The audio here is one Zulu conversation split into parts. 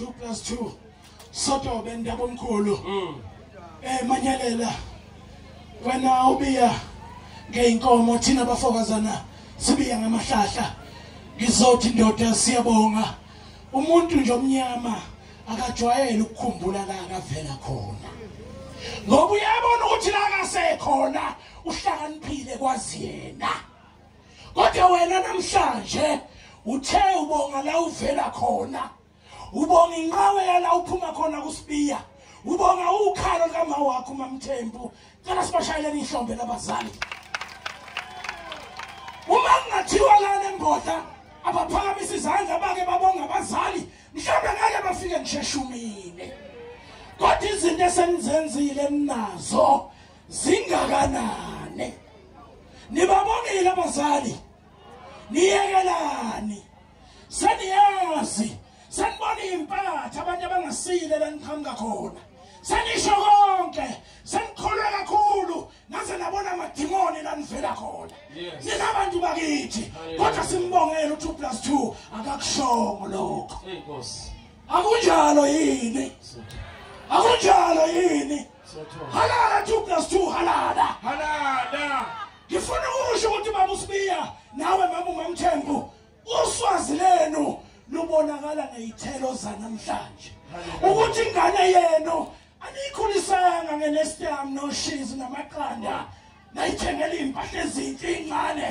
2 plus 2 sotobe ndabomkhulu mm. eh manyalela wena ubiya ngeinkomo thina bafokazana sibiya ngamahlahla ngizothi ndoda siyabonga umuntu nje omnyama akajwayele ukukhumbula la akavela khona ngoba uyabona ukuthi la akasekhona uhlakaniphile kwazi yena kodwa wena namhlanje uthe ubonga la uvela khona ubonga inqawe yala uphuma khona kusibiya ubonga ukhalo likama wakho mamthembu cela sibashayeleni ihlombe labazali uma kungathiwa lana emboda abaphakamisa izandla bake babonga abazali mhlawumbe ngeke bafike ngisheshumile kodwa izinto esenizenzile ninazo zingakanani nibabonile abazali niyekelani seniyazi senibona impatha abantu abangasile laniqhamuka khona senisho konke senikholwe kakhulu naze nabona amadimoni lanivela khona nina bantu bakithi kodwa simbongele u-two plus two akakushongo lokho akunjalo yini akunjalo yini halala 2 plus 2 halala halala ngifuna ukusho ukuthi baba usibiya nawe mama umamthembu uswazi lenu lubonakala ngeyithelo zanamhlanje ukuthi ingane yenu anikhulisanga ngenestam noshizi namaqanda nayithengela impahla ezinhle incane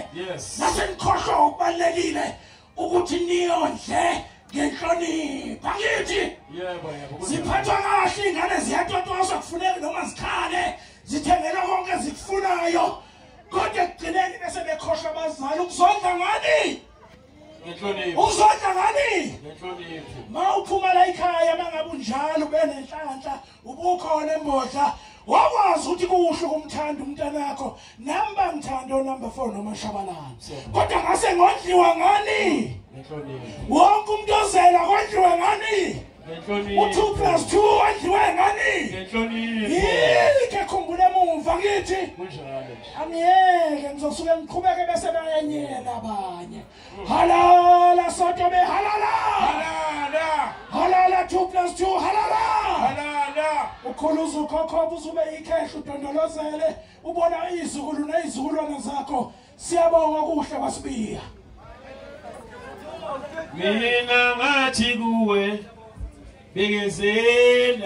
nasenikhohlwa okubalekile ukuthi niyondle ngenhlonipho angithi yebo yebo ziphathwa kahle ingane ziyatotoswa kufuneka noma zikhale zithengela konke ezikufunayo kodwa ekugcineni bese bekhohlwa abazali ukuzondla ngani ngenhlonipho uzondla ngani ngenhlonipho mawuphuma la ikhaya mangabe unjalo benenhlanhla ubukhona embodla wakwazi ukuthi kuhle ukumthanda umntanakho nami bangithanda onumber four nomashabalala kodwa ngase ngodliwa ngani wonke umuntu ozela kodliwa ngani u-two plus two wadliwe ngani yini kekhumbula emumva ngithi angiyeke ngizosuke ngiqhubeke bese bayenyela abanye Halala Soto be halala. Halala. Halala 2 plus 2 halala. Halala. Ukhuluza ukhokho uzube ikhehla udondolozele ubona izukulu nezizukulwana zakho. Siyabonga kuhle basibiya. Mina ngathi kuwe bekezela